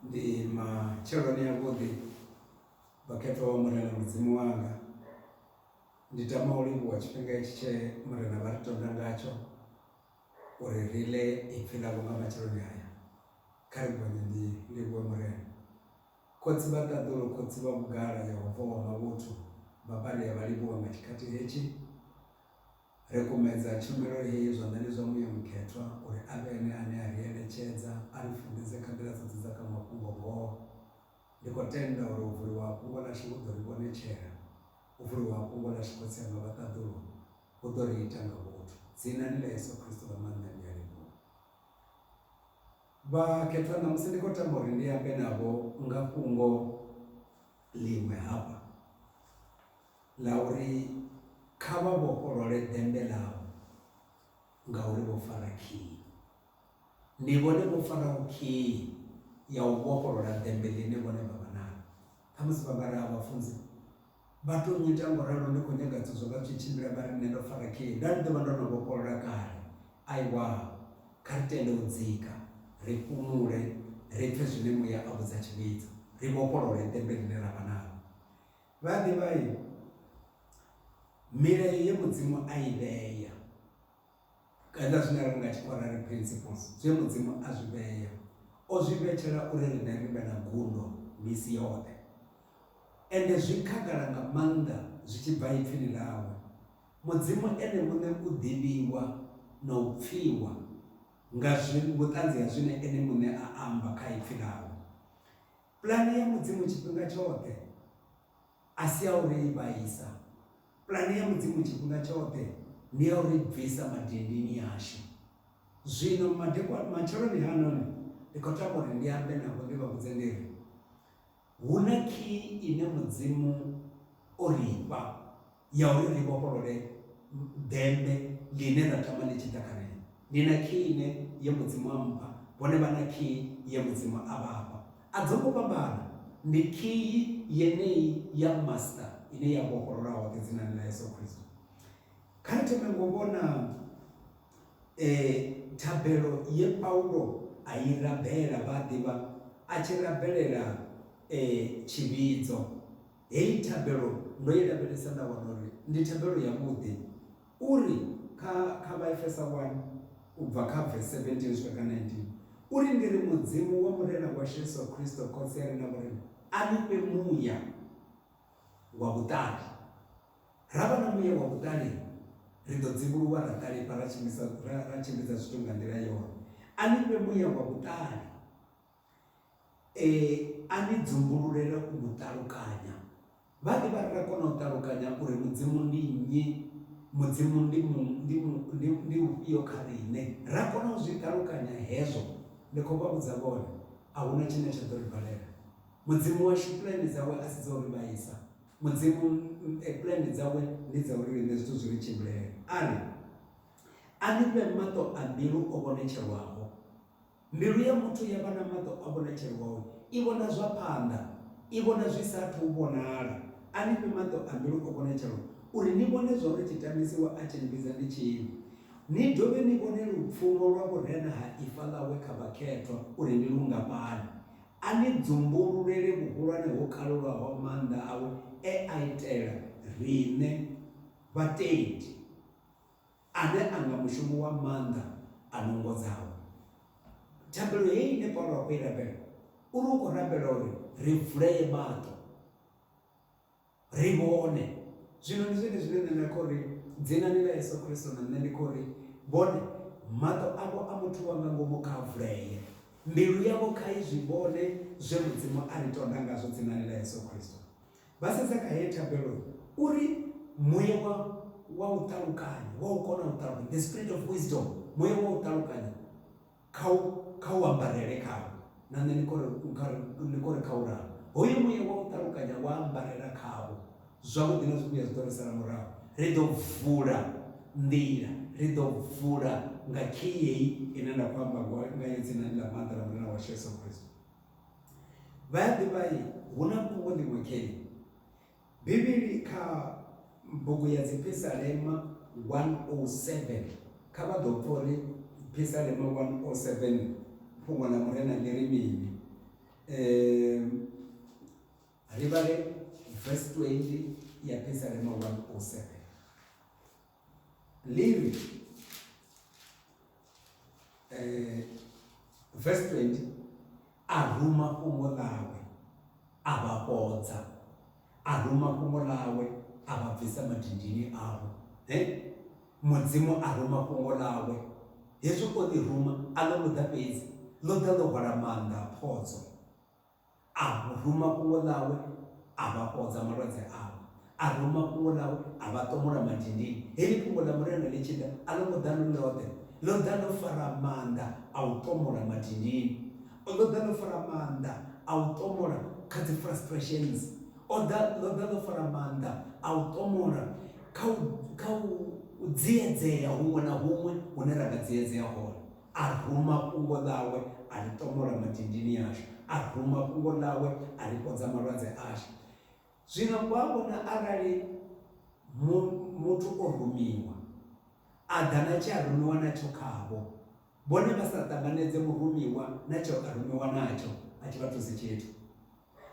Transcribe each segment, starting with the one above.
Ndi matsheloni avhuḓi vhakhethwa vha Murena Mudzimu wanga, ndi tama u livhuwa tshifhinga hetshi tshe Murena vha ri tonda ngatsho uri ri ḽe ipfhi ḽavho nga matsheloni aya. Kha ri gonye ndi livhuwe Murena. Khotsi vha ṱaḓulu, khotsi vha vhugala, Yehova wa mavhuthu, Vhapari a vha livhuwa nga tshikhathi hetshi. Ri kumedza tshumelo heyi zwanḓani zwa Muya Mukhethwa uri a vhe ene ane a ri eletshedza, a ri funḓedze kha nḓila dzoṱhe dza kha mafhungo-ngoho. Ndi khou tenda uri u vuliwa ha fhungo ḽashu hu ḓo ri vhonetshela, u vuliwa ha fhungo ḽashu Khotsi anga vha ṱaḓulu, hu ḓo ri ita nga vhuthu. Dzinani ḽa Yesu Kristo ḽa maanḓa ndi a livhuwa. Vhakhethwa, ṋamusi ndi khou tama uri ndi ambe navho nga fhungo ḽiṅwe hafha. Ḽa uri, Kha vha vhofholole ḓembe ḽavho, ngauri vho fara khiyi. Ndi vhone vho faraho khiyi ya u vhofholola ḓembe ḽine vhone vha vha naḽo. Ṱhamusi vha nga ri, A Vhafunzi, vha tou nnyita nga u ralo, ndi khou nyaga thuso. Vha tshi tshimbila vha ri, Nṋe ndo fara khiyi. Nda ndi ḓo vha ndo no vhofholola kale. Aiwa, kha ri tende u dzika, ri fhumule, ri pfe zwine Muya a vhudza tshivhidzo, ri vhofholole ḓembe ḽine ra vha naḽo. Vha a ḓivha milayo ye mudzimu a i vhea kana zwine ra nga tshi khou rari principles zwe mudzimu a zwi vhea o zwi vhetshela uri riṋe ri vhe na gundo misi yoṱhe ende zwi khagala nga maanḓa zwi tshi bva ipfhini ḽawe mudzimu ene muṋe u ḓivhiwa na u pfhiwa nga zwi vhuṱanzi ha zwine ene muṋe a amba kha ipfhi ḽawe Pulane ya Mudzimu tshifhinga tshoṱhe a si ya u ri vhaisa. Pulane ya Mudzimu tshifhinga tshoṱhe ndi ya u ri bvisa madindini ashu. Zwino madekwana, matsheloni hanoni, ndi khou tama uri ndi ambe navho ndi vha vhudze ndi ri, Hu na khiyi ine Mudzimu o ri fha. ya uri ri vhofholole ḓembe ḽine ra tama ḽi tshi ḓa kha riṋe. Ni na khii ine ye Mudzimu a mpha, vhone vha na khii ye Mudzimu a vha fha. A dzo ngo fhambana, ndi khii yeneyi ya Master ine ya vhofholola hoṱhe dzinani ḽa Yesu Kristo. Kha ri thome ngo vhona e, thabelo ye Paulo a i rabela, vha a ḓivha, a tshi rabelela e, tshivhidzo. Heyi thabelo ndo i lavhelesa nda wana uri ndi thabelo yavhuḓi. U ri kha kha Vhaefesa 1 u bva kha vesi 17 u swika kha 19, u ri, Ndi ri Mudzimu wa Murena washu Yesu Kristo Khotsi a re na vhurena a ni fhe muya wa vhuṱali. Ra vha na muya wa vhuṱali, ri ḓo dzivhuluwa ra ṱalifha ra tshimbidza ra tshimbidza zwithu nga nḓila yone. A ni fhe muya wa vhuṱali. E a ni dzumbululele u vhu ṱalukanya. Vhanzhi vha ri, Ri a kona u ṱalukanya uri Mudzimu ndi nnyi, Mudzimu ndi mu, ndi mu, ndi, ndi ufhio kha riṋe. Ri a kona u zwi ṱalukanya hezwo. Ndi khou vha vhudza vhone, a hu na tshine tsha ḓo ri balela. Mudzimu washu pulane dzawe a si dza u ri vhaisa. Mudzimu, e, pulane dzawe ndi dza uri riṋe zwithu zwi ri tshimbilele. A ri, A ni fhe maṱo a mbilu o vhonetshelwaho, Mbilu ya muthu ya vha na maṱo a vhonetshelo wawe, i vhona zwa phanḓa, i vhona zwi sa athu u vhonala. A ni fhe maṱo a mbilu o vhonetshelwa, uri ni vhone zwauri tshitamisi we a tshi ni vhidza ndi tshini, ni dovhe ni vhone lupfumo lwa vhurena ha ifa ḽawe kha vhakhethwa uri ndi lungafhani, a ni dzumbululele vhuhulwane ho kalulaho ha maanḓa awe e a itela riṋe vhatendi. Ane a nga mushumo wa maanḓa a no ngodzaho. Thabelo heyi ine Paulo a khou i rabela, u ri u khou rabela uri ri vulee maṱo, ri vhone. Zwino ndi zwone zwine nṋe nda khou ri, Dzinani ḽa Yesu Kristo, na nṋe ndi khou ri, Vhone, maṱo avho a muthu wa nga ngomu kha a vulee, mbilu yavho kha i zwi vhone zwe Mudzimu a ri tonda ngazwo dzinani ḽa Yesu Kristo. Vha sedza kha heyi thabelo uri muya wa wa u ṱalukanya, wa u kona u ṱalukanya, the spirit of wisdom, muya wa u ṱalukanya kha u kha u ambarele khavho. Na nṋe ni khori ni khori kha u ralo. Hoyo muya wa u ṱalukanya wa ambarela khavho, zwavhuḓi na zwivhuya zwi ḓo ri sala murahu. Ri ḓo vula nḓila, ri ḓo vula nga khei heyi ine nda khou amba ngayo dzinani ḽa maanḓa ḽa Murena washu Yesu Kristo. Vha ya ḓivha-i, hu na fhungo ḽiṅwe khei Bivhili kha bugu ya Dziphisalema 107. Kha vha ḓo pfa uri Phisalema 107 fhungo ḽa Murena ḽi ri mini. Ri vhale verse 20 ya Phisalema 107. Levi eh, verse 20 a ruma fhungo ḽawe a vha fhodza a ruma fhungo ḽawe a vha bvisa madindini avho he mudzimu a ruma fhungo ḽawe hezwi o ḽi ruma a ḽo muḓa fhedzi ḽo ḓa ḽo hwala maanḓa a phodzo A ruma fhungo ḽawe, a vha fhodza malwadze avho. A ruma fhungo ḽawe, a vha ṱomola madindini. Heḽi fhungo ḽa Murena ḽi tshi ḓa, a ḽo ngo ḓa ḽo ḽoṱhe. Ḽo ḓa ḽo fara maanḓa a u ṱomola madindini. Ḽo ḓa ḽo fara maanḓa a u ṱomola kha dzi frustrations. O ḓa, ḽo ḓa ḽo fara maanḓa a u ṱomola kha u, kha u, u dziedzea huṅwe na huṅwe hune ra nga dziedzea hone. A ruma fhungo ḽawe a ḽi ṱomola madindini ashu, a ruma fhungo ḽawe a ḽi fhodza malwadze ashu. Zwino vha vhona arali mu, muthu o rumiwa, a ḓa na tshe a rumiwa natsho khavho, vhone vha sa ṱanganedze murumiwa na tshe a rumiwa natsho, a tshi vha thusi tshithu.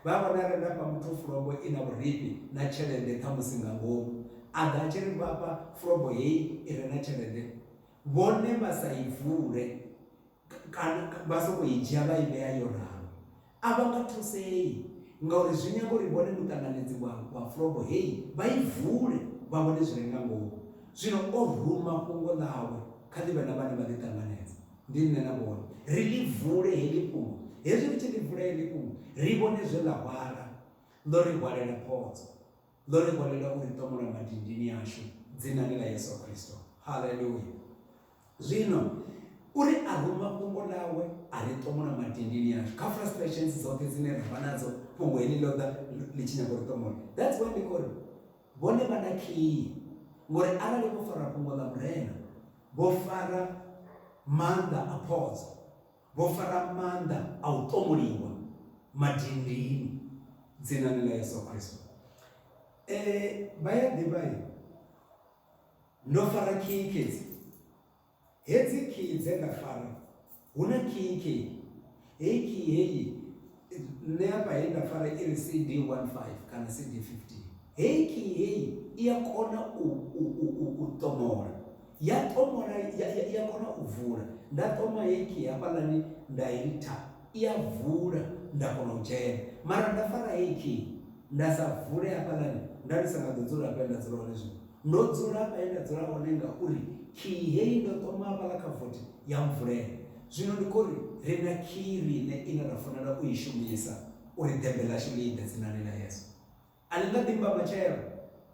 Vha vhona ri nga fha muthu fulobo i na vhurifhi na tshelede khamusi nga ngomu, a ḓa a tshi ri vha fha fulobo hei i re na tshelede vhone vha sa i vule kana vha sokou i dzhia vha i vhea yo ralo. A vha nga thusei ngauri zwi nyaga uri vhone muṱanganedzi wa wa fulobo hei vha i vule vha vhone zwi re nga ngomu. Zwino o ruma fhungo ḽawe kha ḽi vhe na vhane vha ḽi ṱanganedza. Ndi nṋe na vhone. Ri ḽi vule heḽi fhungo. Hezwi ri tshi ḽi vula heḽi fhungo, ri vhone zwe ḽa hwala. Ḽo ri hwalela phodzo. Ḽo ri hwalela u ri ṱomola madindini ashu, Dzinani ḽa Yesu Kristo. Haleluya! Zwino, U ri aruma Fhungo ḽawe, a ri ṱomola madindini ashu. Kha frustrations dzoṱhe dzine ra vha nadzo, Fhungo heḽi ḽo ḓa ḽi tshi nyaga u ri ṱomola. That's why ndi khou ri, Vhone vha na khiyi, ngauri arali vho fara Fhungo ḽa Murena, Vho fara maanḓa a phodzo, vho fara maanḓa a u ṱomuliwa madindini. Dzinani ḽa Yeso Kristo. E, vha ya ḓivha i. Ndo fara khiyi khedzi, hedzi khiyi dze nda fara. Hu na kinkhi, heyi khiyi heyi nṋe hafha he nda fara i ri CD 15 kana CD 15. Heyi khiyi heyi i a kona u, u, u, u, u ṱomola. Ya ṱomola, ya, ya, ya kona u vula. Nda ṱoma heyi khiyi hafhaḽani nda i ritha, i a vula nda kona u dzhena. Mara nda fara heyi khiyi nda sa vule hafhaḽani, nda ndi sa nga ḓo dzula hafha he nda dzula hone zwino, Ndo dzula hafha he nda dzula hone ngauri khiyi heyi ndo ṱoma hafhaḽa kha vothi ya mvulela. Zwino ndi khou ri, ri na khiyi riṋe ine ra fanela u i shumisa uri ḓembe ḽashu ḽi ḓe dzinani ḽa Yesu. A ḽi nga ḓi mba matshelo,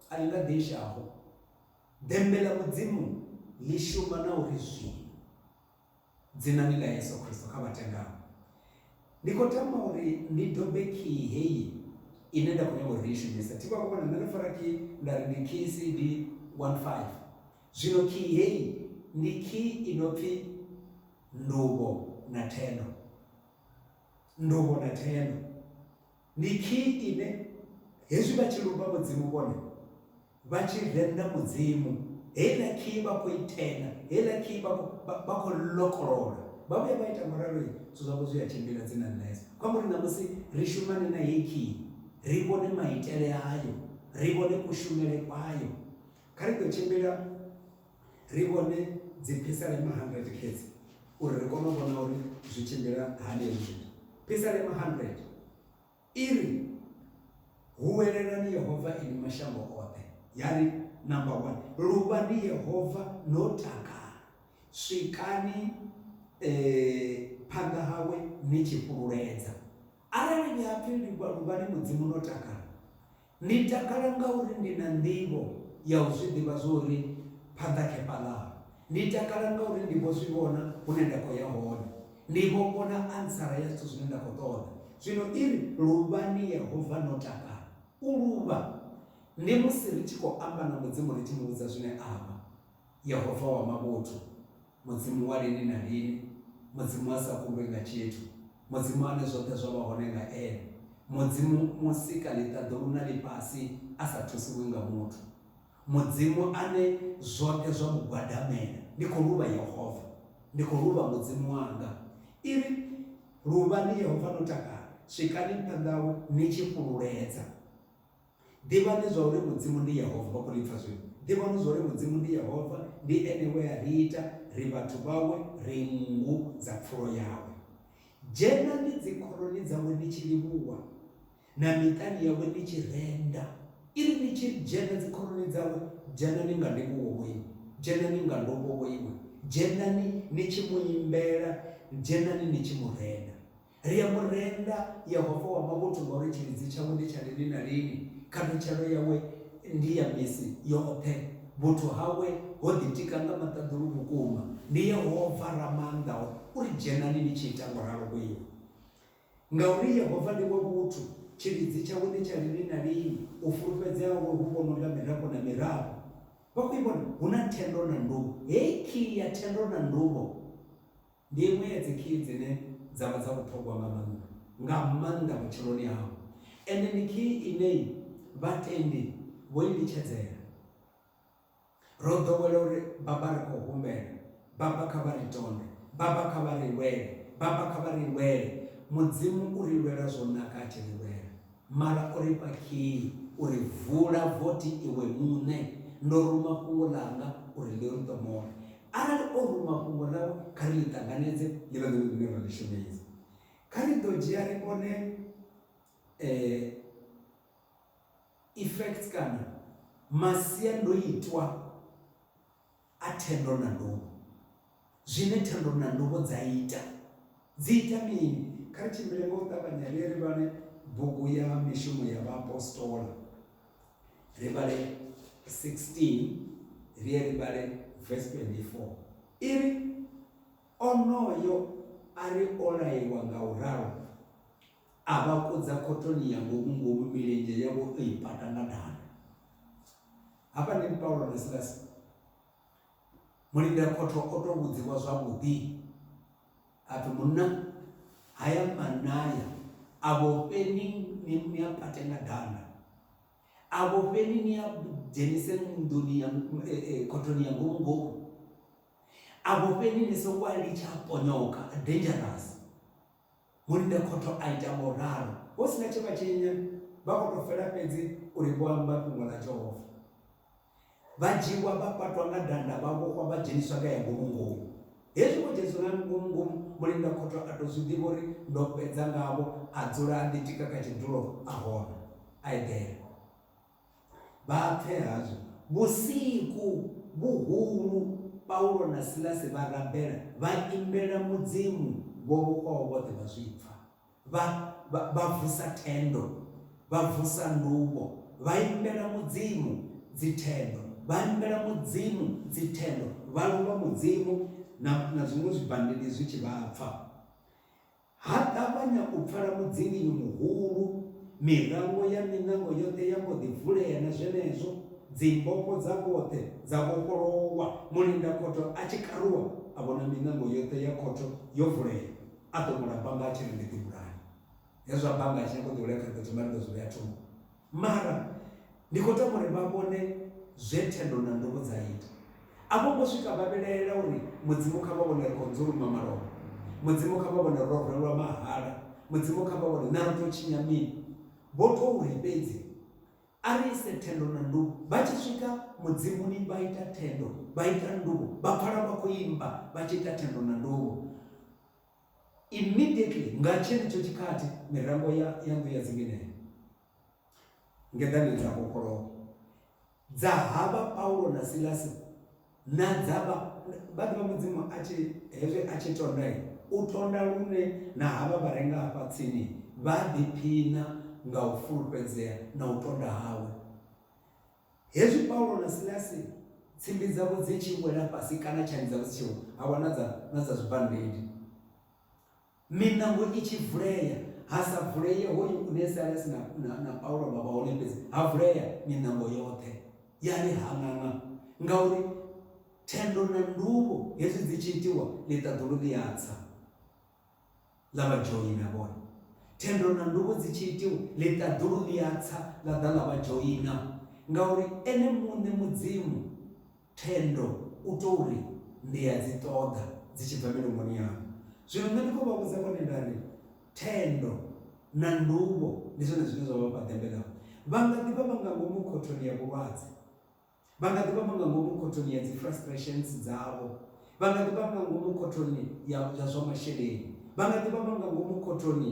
a ḽi nga ḓi sha-ho. Ḓembe ḽa Mudzimu ḽi shuma na uri zwino. Dzinani ḽa Yesu Kristo kha vha tendaho. Ndi khou tama uri ni dobe khiyi heyi ine nda khou nyanga uri ni i shumise. Thi vha vho vhona, nṋe ndo fara khiyi nda ri ndi khiyi CD 15. Zwino khiyi heyi ndi khiyi i no pfi Nduvho na Thendo. Nduvho na Thendo. Ndi khiyi ine hezwi vha tshi lumba Mudzimu vhone vha tshi renda Mudzimu, heiḽa khiyi vha khou i tenda, heiḽa khiyi vha khou vha khou lokolola. Vha vhuya vha ita ngauralo, zwithu zwavho zwi a tshimbila, dzi na nḓayedzo. Kha muri ṋamusi ri shumane na heyi khiyi, ri vhone maitele ayo, ri vhone kushumele kwayo. Kha ri ḓo tshimbila Ri vhone dziphisalema 100 xedzi uri ri kone u vhona uri zwi tshimbila hani hezwi zwithu. Phisalema 100 i ri, Huwelelani Yehova inwi mashango oṱhe, ya ri, Number one, luvhani Yehova no takala, swikani phanḓa hawe ni tshi fhululedza. Arali ni a pfi livhuwa, luvhani Mudzimu no takala. Ni takala ngauri ndi na nḓivho ya u zwi ḓivha zwo uri phanḓa khefha ḽaho. Ni takala ngauri ndi vho zwi vhona hune nda khou ya hone. Ni vho vhona antsara ya zwithu zwine nda khou ṱoḓa. Zwino i ri, Luvhani Yehova no takala. U luvha ndi musi ri tshi khou amba na Mudzimu ri tshi mu vhudza zwine a vha, Yehova wa mavhuthu. Mudzimu wa lini na lini, Mudzimu a sa kundwi nga tshithu, Mudzimu ane zwoṱhe zwa vha hone nga Ene, Mudzimu Musika-ḽiṱaḓulu na ḽifhasi a sa thusiwi nga muthu, Mudzimu ane zwoṱhe zwa mu gwadamela. Ndi khou luvha Yehova, ndi khou luvha Mudzimu wanga. I ri, Luvhani Yehova no takala, swikani phanḓa hawe ni tshi fhululedza. Ḓivhani zwa uri Mudzimu ndi Yehova. Vha khou ḽi pfa zwino? Ḓivhani zwa uri Mudzimu ndi Yehova, ndi ene we a ri ita, ri vhathu vhawe, ri nngu dza pfulo yawe. Dzhenani dzikhoroni dzawe ni tshi livhuwa, na miṱani yawe ni tshi renda. I ri ni tshi dzhena dzikhoroni dzawe, dzhenani nga ndivhuwo vho iwe, dzhenani nga ndovho vho iwe, dzhenani ni tshi mu imbela, dzhenani ni tshi mu renda. Ri a mu renda Yehova wa mavhuthu ngauri tshilidzi tshawe ndi tsha lini na lini, khathutshelo yawe ndi ya misi yoṱhe, vhuthu hawe ho ḓitika nga maṱaḓulu vhukuma. Ndi Yehova Ramaanḓao u ri, Dzhenani ni tshi ita ngo ralo ku iwe. Ngauri Yehova ndi wa vhuthu, tshilidzi tshawe ndi tsha lini na lini, u fulufhedzea hawe hu vhonwa nga mirafho na mirafho. Vha khou i vhona? Hu na thendo na nduvho. Hei khiyi ya thendo na nduvho. Ndi iṅwe ya dzikhiyi dzine dza vha dza vhuṱhogwa nga maanḓa, nga maanḓa vhutshiloni hau. Ende ndi khiyi ine vhatendi vho i litshedzela. Ro ḓowela uri, Baba, ri khou humbela. Baba, kha vha ri tonde. Baba, kha vha ri lwele. Baba, kha vha ri lwele. Mudzimu u ri lwela zwo naka a tshi ri lwela. Mara o ri fha khiyi u ri, Vula vothi iwe muṋe. Ndo ruma fhungo ḽanga uri ḽi ri ṱomore. Arali o ruma fhungo ḽawe, kha ri ḽi ṱanganedze ḽi vhe ḽone ḽine ra ḽi shumisa. Kha ri ḓo dzhia ri vhone effects kana masiandoitwa. A thendo na nduvho. Zwine thendo na nduvho dza ita, dzi ita mini? Kha ri tshimbile nga u ṱavhanya ri ye ri vhale bugu ya Mishumo ya Vhaapostola, ri vhale 16, ri ye ri vhale vesi 24. I ri, Onoyo a ri o laiwa nga u ralo, A vha kudza khothoni ya ngomu-ngomu, milenzhe yavho o i pata nga danda. Hafhanoni Paulo na Silasi, mulindakhotho o tou vhudziwa zwavhuḓi a pfi, Munna, haya manaya a vhofheni ni a pate nga danda, a vhofheni ni a dzhenise nḓuni ya e, e, khothoni ya ngomu ngomu, a vhofheni ni songo a litsha a ponyoka, dangerous. Mulinda khotho a ita ngo ralo. Hu si na tshe vha tshi nya, vha khou tou fela fhedzi uri vho amba fhungo ḽa Jehova. Vha dzhiiwa vha patwa nga danda, vha vhofhwa vha dzheniswa kha ya ngomu-ngomu. Hezwi vho dzheniswa nga ngomu-ngomu, mulinda khotho a tou zwi ḓivha uri ndo fhedza ngavho, a dzula a ḓitika kha tshidulo a hona, a eḓela. Bvaafhi hazwo, vhusiku vhuhulu Paulo na Silasi vha rabela, vha imbela Mudzimu vho vhofhaho vhoṱhe vha zwi pfa. Vha, vha, vha vusa thendo, vha vusa nduvho, vha imbela Mudzimu dzithendo, vha imbela Mudzimu dzithendo, vha luvha Mudzimu, na, na zwiṅwe zwibandidi zwi tshi vha pfa. Ha ṱavhanya u pfala mudzinginyo muhulu, mirango ya miṋango yoṱhe ya mbo ḓi vulea na zwenezwo dzimbofho dza vhoṱhe dza vhofholowa. Mulindakhotho a tshi karuwa a vhona miṋango yoṱhe ya khotho yo vulea, a ṱomola banga a tshi ri ndi ḓi vhulaye. Hezwo a banga a tshi nyaga u ḓi vhulaya kha ri ḓo thoma ri ḓo zwi vhea thungo. Mara ndi khou tama uri vha vhone zwe thendo na nduvho dza ita. A vho ngo swika vha vhilaela uri, Mudzimu kha vha vhone ri khou nzuluma malofha. Mudzimu kha vha vhone ro rwelwa mahala. Mudzimu kha vha vhone naa ri tou tshinya mini. Vho tou ri fhedzi, A ri ise thendo na nduvho. Vha tshi swika Mudzimuni vha ita thendo, vha ita nduvho, vha pfala vha khou imba vha tshi ita thendo na nduvho. Immediately, nga tshenetsho tshikhathi, mirango ya, ya nnḓu ya dzinginehe ngeḓaneni dza vhofholowa dza havha Paulo na Silasi na dza vha, vha ḓivha Mudzimu a tshi, hezwi a tshi tonda, u tonda lune na havha vha re nga hafha tsini vha ḓiphiṋa nga u fulufhedzea na u tonda hawe. Hezwi Paulo na Silasi tsimbi dzavho dzi tshi wela fhasi kana tshani dzavho dzi tshi wa, ha wa na dza, na dza zwibandidi, miṋango i tshi vulea, ha sa vulee hoyu une Silasi na, na, na Paulo vha vha hone fhedzi, ha vulea miṋango yoṱhe, ya ri haṅaṅa, ngauri thendo na nduvho hezwi dzi tshi itiwa, ḽiṱaḓulu ḽi a tsa. ḽa vha dzhoina vhone. Thendo na nduvho dzi tshi itiwa, ḽiṱaḓulu ḽi a tsa ḽa ḓa ḽa vha dzhoina, ngauri Ene muṋe Mudzimu thendo u tou ri, Ndi a dzi ṱoḓa dzi tshi bva milomoni yaṋu. Zwino nṋe ndi khou vha vhudza vhone nda ri, Thendo na nduvho ndi zwone zwine zwa vha fha ḓembe ḽavho. Vha nga ḓi vha vha nga ngomu khothoni ya vhulwadze. Vha nga ḓi vha vha nga ngomu khothoni ya dzi frustrations dzavho. Vha nga ḓi vha nga ngomu khothoni ya ya zwa masheleni. Vha nga ḓi vha vha nga ngomu khothoni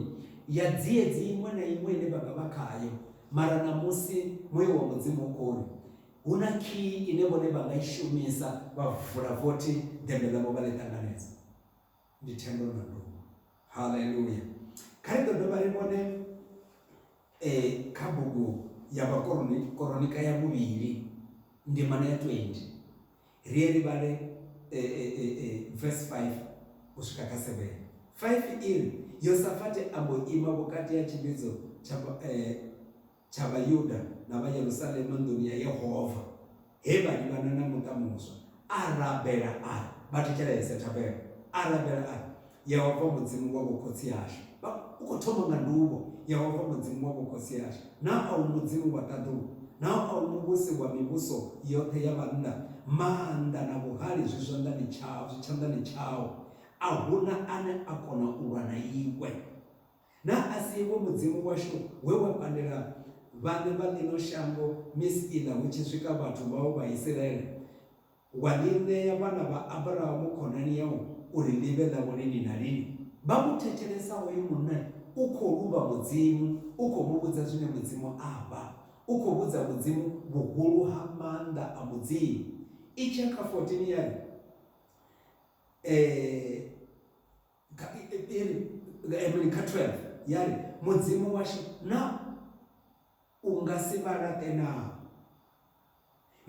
ya dziedzi iṅwe na iṅwe ine vha nga vha khayo. Mara ṋamusi Muya wa Mudzimu u khou ri, hu na khiyi ine vhone vha nga i shumisa vha vula vothi ḓembe ḽavho vha ḽi ṱanganedza. Ndi thendo na nduma. Haleluya! Kha ri ḓo dovha ri vhone kha bugu ya Vhakoronita ya vhuvhili ndimana ya 20, ri ye ri vhale vesi 5 u swika kha 7. 5 i ri, Yosafate a mbo ima vhukati ha tshivhidzo tsha tsha Vhayuda na vha Yerusalema nḓuni ya Yehova he vha livhana na muṱa muswa, a rabela a ri, Vha thetshelese! Thabelo! A rabela a ri, Yehova Mudzimu wa vhokhotsi ashu, vha, u khou thoma nga nduvho, Yehova Mudzimu wa vhokhotsi ashu, naa a u Mudzimu wa ṱaḓulu? Naa a u Muvhusi wa mivhuso yoṱhe ya vhannḓa? Maanḓa na vhuhali zwi zwanḓani tshau, zwi tshanḓani tshau, a hu na ane a kona u lwa na iwe. Naa a si iwe Mudzimu washu we wa pandela vhaṋe vha ḽino shango misi iḽa hu tshi swika vhathu vhau vha Isiraele, wa ḽi ṋea vhana vha Abrahamu khonani yau uri ḽi vhe ḽavho lini na lini? Vha mu thetshelesa hoyu munna u khou luvha Mudzimu, u khou mu vhudza zwine Mudzimu a vha. U khou vhudza Mudzimu vhuhulu ha maanḓa a Mudzimu. Itshe kha 14 ya ri, Ee! Nga iri nga iri kha 12 ya ri, Mudzimu washu, naa u nga si vha laṱe naa?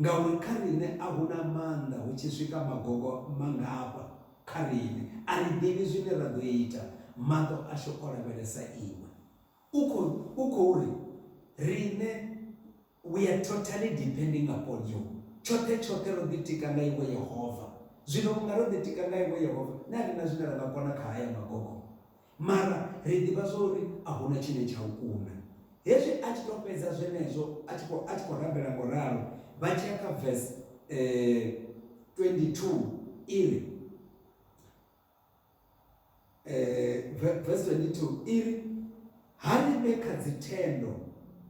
Ngauri kha riṋe a hu na maanḓa hu tshi swika magogo mangafha kha riṋe. A ri ḓivhi zwine ra ḓo ita, maṱo ashu o lavhelesa iwe. U khou ri riṋe. We are totally depending upon you. Tshoṱhe tshoṱhe ro ḓitika nga Iwe Yehova. Zwino vhunga ro ḓitika nga Iwe Yehova, na riṋe a zwine ra nga kona kha haya magogo. Mara ri ḓivha zwa uri a hu na tshine tsha u kuna. Hezwi a tshi tou fhedza zwenezwo, a tshi khou, a tshi khou rabela ngo ralo, vha tshi ya kha verse 22, i ri, eh, verse 22 iri ha ri vhe kha dzithendo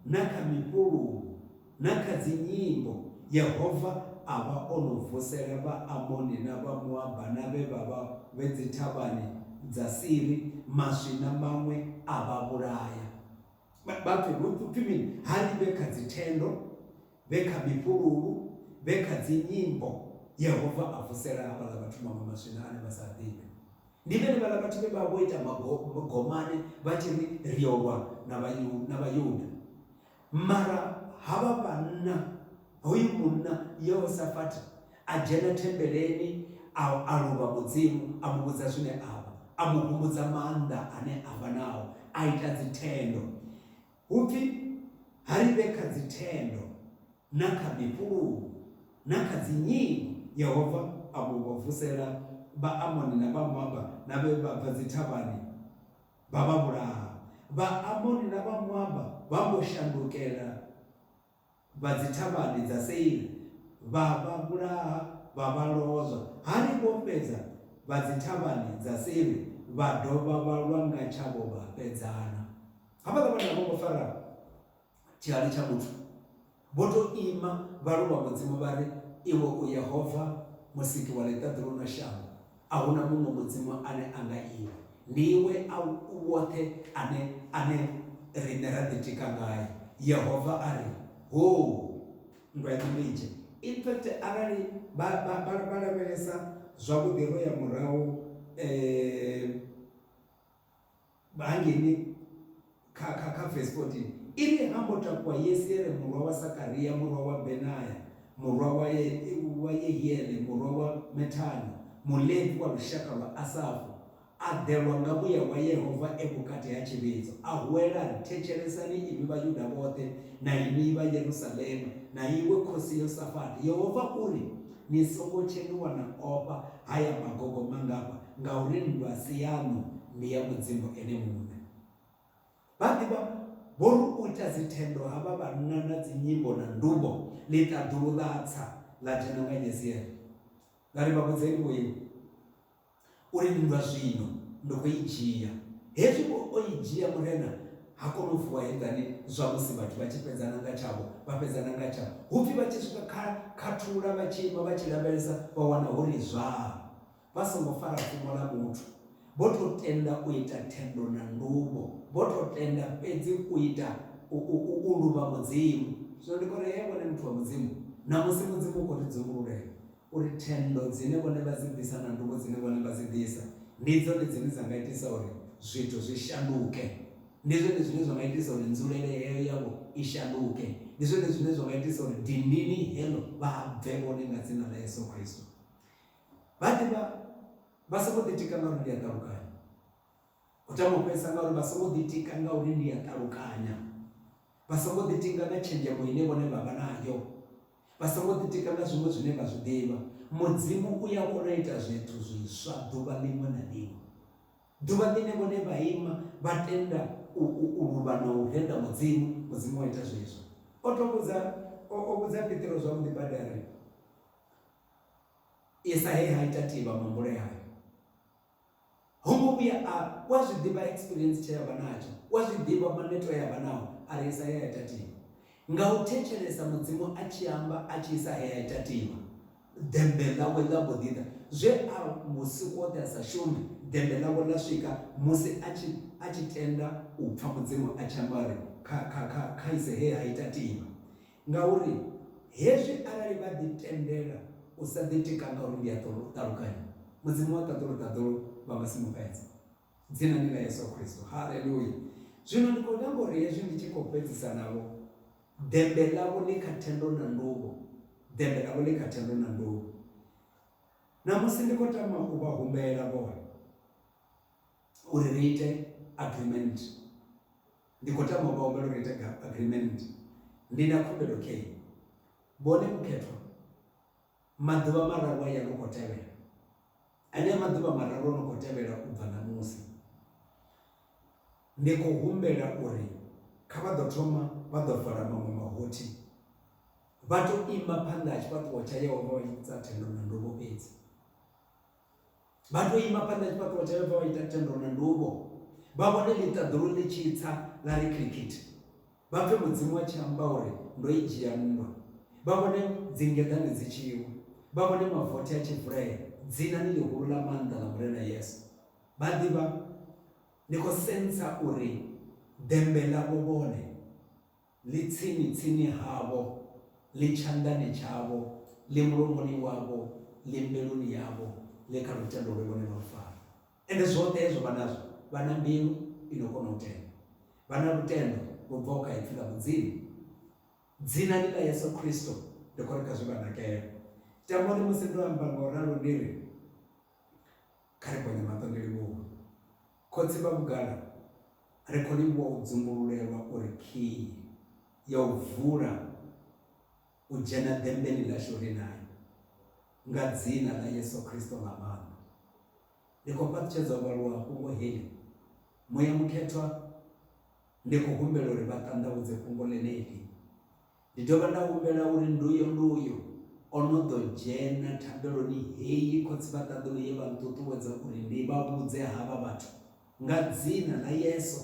na kha mifhulungu na kha dzinyimbo yehova a vha o no vusela vhaamoni na vhamoaba na vhe vha vha vhe dzithavhani dza siri maswi na maṅwe a vha vhulaya Vha vha pfi hu pfi mini? Ha ri vhe kha dzithendo, vhe kha mifhululu, vhe kha dzinyimbo. Yehova a vusela havhaḽa vhathu maṅwe maswina ane vha sa a ḓivhe. Ndi vhenevhaḽa vhathu vhe vha vha vho ita magomane vha tshi ri ri yo lwa na Vhayuda. Mara havha vhanna. Hoyu munna Yehosafati a dzhena thembeleni a a luvha Mudzimu, a mu vhudza zwine a vha, a mu humbudza maanḓa ane a vha nao, a ita dzithendo. Hu pfi, Ha ri vhe kha dzithendo na kha mifhululu na kha dzinyingo. Yehova a mbo vha vusela Vhaamoni na Vhamoaba na vhe vha bva dzithavhani vha vha vhulaha. Vhaamoni na Vhamoaba vha mbo shandukela. Vha dzithavhani dza Seira vha vha vhulaha, vha vha lozwa. Hani vho fhedza, vha dzithavhani dza Seiri vha dovha vha lwa nga tshavho vha fhedzana. Havhaḽa vhana a vho ngo fara tshihali tsha muthu. Vho tou ima vha luvha Mudzimu vha ri, Iwe u Yehova, Musiki wa ḽiṱaḓulu na shango, A hu na muṅwe Mudzimu ane a nga Iwe. Ndi Iwe a u woṱhe ane, ane riṋe ra ḓitika ngae. Yehova a ri, Hoo! Nndwa yaṋu ndi nzhe. In fact, arali vha, vha, vha, vha lavhelesa zwavhuḓi ro ya murahu, eh, Vha hangeni kha, kha, kha vesi 14, i ri, Ha mbo takuwa Yesiele murwa wa Sakaria, murwa wa Benaya, murwa wa, wa Yehiele, murwa wa Methana, Mulevi wa lushaka lwa Asafu, a ḓelwa nga muya wa Yehova e vhukati ha tshivhidzo, a huwela a ri, Thetshelesani inwi Vhayuda vhoṱhe na inwi vha Yerusalema, na iwe khosi Yosafati, Yehova u ri, Ni songo tshenuwa na ofha haya magogo mangafha, Ngauri nndwa a si yaṋu, ndi ya Mudzimu Ene muṋe. Vha ḓivha, vho ri u ita dzithendo havha vhanna na dzinyimbo na ndumbo, ḽi ṱaḓulu ḽa tsa, ḽa dzhena nga Yeziele. Nda ri, Vha vhudzeni vho iwe, u ri, Nndwa zwino ndi khou i dzhia. Hezwi vho o i dzhia Murena, ha kona u vuwa heiḽani zwamusi vhathu vha tshi fhedzana nga tshavho, vha fhedzana nga tshavho, hu pfi vha tshi swika kha khathula vha tshi ima vha tshi lavhelesa, vha wana hu ri zwaa. Vha songo fara fhungo ḽa vhuthu, vho tou tenda u ita thendo na nduvho, vho tou tenda fhedzi u ita, u, u, u, u luvha Mudzimu. Zwino ndi khou ri hee vhone muthu wa Mudzimu, ṋamusi Mudzimu u khou ri dzungululela uri thendo dzine vhone vha dzi bvisa na nduvho dzine vhone vha dzi ḓisa, ndi dzone dzine dza nga itisa uri zwithu zwi shanduke. Ndi zwone zwine zwa nga itisa uri nzulele heyo yavho i shanduke. Ndi zwone zwine zwa nga itisa uri dindini heḽo vha bve vhone nga Dzina ḽa Yesu Kristo. Vha ḓivha, vha songo ḓitika ngauri ndi a ṱalukanya. U tama u fhedzisa ngauri vha songo ḓitika ngauri ndi a ṱalukanya. Vha songo ḓitinga nga tshenzhemo ine vhone vha vha nayo. Vha songo ḓitika nga zwiṅwe zwine vha zwi ḓivha. Mudzimu u ya kona u ita zwithu zwiswa ḓuvha ḽiṅwe na ḽiṅwe. Ḓuvha ḽine vhone vha ima vha tenda u, u, u luvha na u renda Mudzimu, Mudzimu wa ita zwezwo. O to vhudza, o, o vhudza Petro zwavhuḓi badi a ri, Isa he ha ita tivha muhumbulo yayo. Ho ngo vhuya a, u a zwi ḓivha experience tshe ya vha natsho, u a zwi ḓivha maneto e ya vha nao, a ri Isa he ha ita tivha. Nga u thetshelesa Mudzimu a tshi amba, a tshi isa he ha ita tivha, ḓembe ḽawe ḽa mbo ḓi ḓa. Zwe a vhusiku hoṱhe a sa shume, ḓembe ḽawe ḽa swika musi a tshi, a tshi tenda u pfa Mudzimu a tshi amba uri, Kha, kha, kha, kha ise he ha ita tivha. Ngauri hezwi arali vha ḓi tendela u sa ḓitika nga uri ndi a ṱalukanya, Mudzimu wa ṱaḓulu ṱaḓulu vha nga si mu fhedze. Dzina ndi ḽa Yesu Kristo. Haleluya! Zwino ndi khou nyaga uri hezwi ndi tshi khou fhedzisa navho, ḓembe ḽavho ḽi kha thendo na nduvho, ḓembe ḽavho ḽi kha thendo na nduvho. Ṋamusi ndi khou tama u vha humbela vhone uri ri ite agreement. Ndi khou tama u vha humbela uri ni ite agreement. Ndi na khumbelo kha inwi. Vhone mukhethwa, Maḓuvha mararu aya no khou tevhela, anea maḓuvha mararu o no khou tevhela u bva ṋamusi, ndi khou humbela uri kha vha ḓo thoma vha ḓo vala maṅwe mahothi, vha tou ima phanḓa ha tshifhaṱuwo tsha Yehova vha tshi ḓisa thendo na nduvho fhedzi. Vha tou ima phanḓa ha tshifhaṱuwo tsha Yehova vha ita thendo na nduvho, vha vhone ḽiṱaḓulu ḽi tshi tsa ḽa ri khilikhithe. Vha pfe Mudzimu a tshi amba uri, Ndo i dzhia nndwa. Vha vhone dzingeḓane dzi tshi wa, vha vhone mavothi a tshi vulea. Dzinani ḽihulu ḽa maanḓa ḽa Murena Yesu! Vha ḓivha, ndi khou sentsa uri ḓembe ḽavho vhone. Ḽi tsini-tsini havho, ḽi tshanḓani tshavho, ḽi mulomoni wavho, ḽi mbiluni yavho, ḽi kha lutendo lwe vhone vha lu fara. Ende zwoṱhe hezwo vha nazwo, vha na mbilu i no kona u tenda. Vha na lutendo lu bvaho kha Ipfi ḽa Mudzimu. Dzinani ḽa Yesu Kristo, ndi khou ri kha zwi vha nakele. Tamboni musi ndo amba nga u ralo ndi ri, Kha ri ponye maṱo ri livhuwe Khotsi vha vhugala, ri khou livhuwa u dzumbululelwa uri khiyi ya u vula u dzhena ḓemmbeni ḽashu ri nayo, nga Dzina ḽa Yesu Kristo ḽa maanḓa. Ndi khou fhaṱutshedza u vhaluwa fhungo heḽi, Muya Mukhethwa, ndi khou humbela uri vha ṱanḓavhudze fhungo ḽeneḽi. Ndi dovha nda humbela uri nduyo nduyo o no ḓo dzhena thambeloni heyi khotsi vha ṱaḓulu ye vha nṱuṱuwedza uri ndi vha vhudze havha vhathu nga dzina ḽa Yeso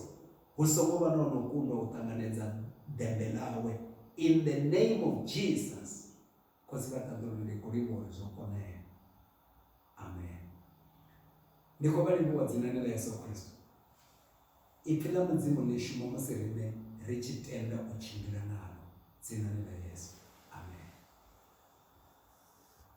hu songo vha na o no kundwa u ṱanganedza ḓembe ḽawe in the name of Jesus. Khotsi vha ṱaḓulu ndi khou livhuwa uri zwo konea. Amen. Ndi khou vha livhuwa dzinani ḽa Yesu Kristo. Ipfi ḽa Mudzimu ḽi shuma musi riṋe ri tshi tenda u tshimbila nalo dzinani ḽa Yesu. Amen.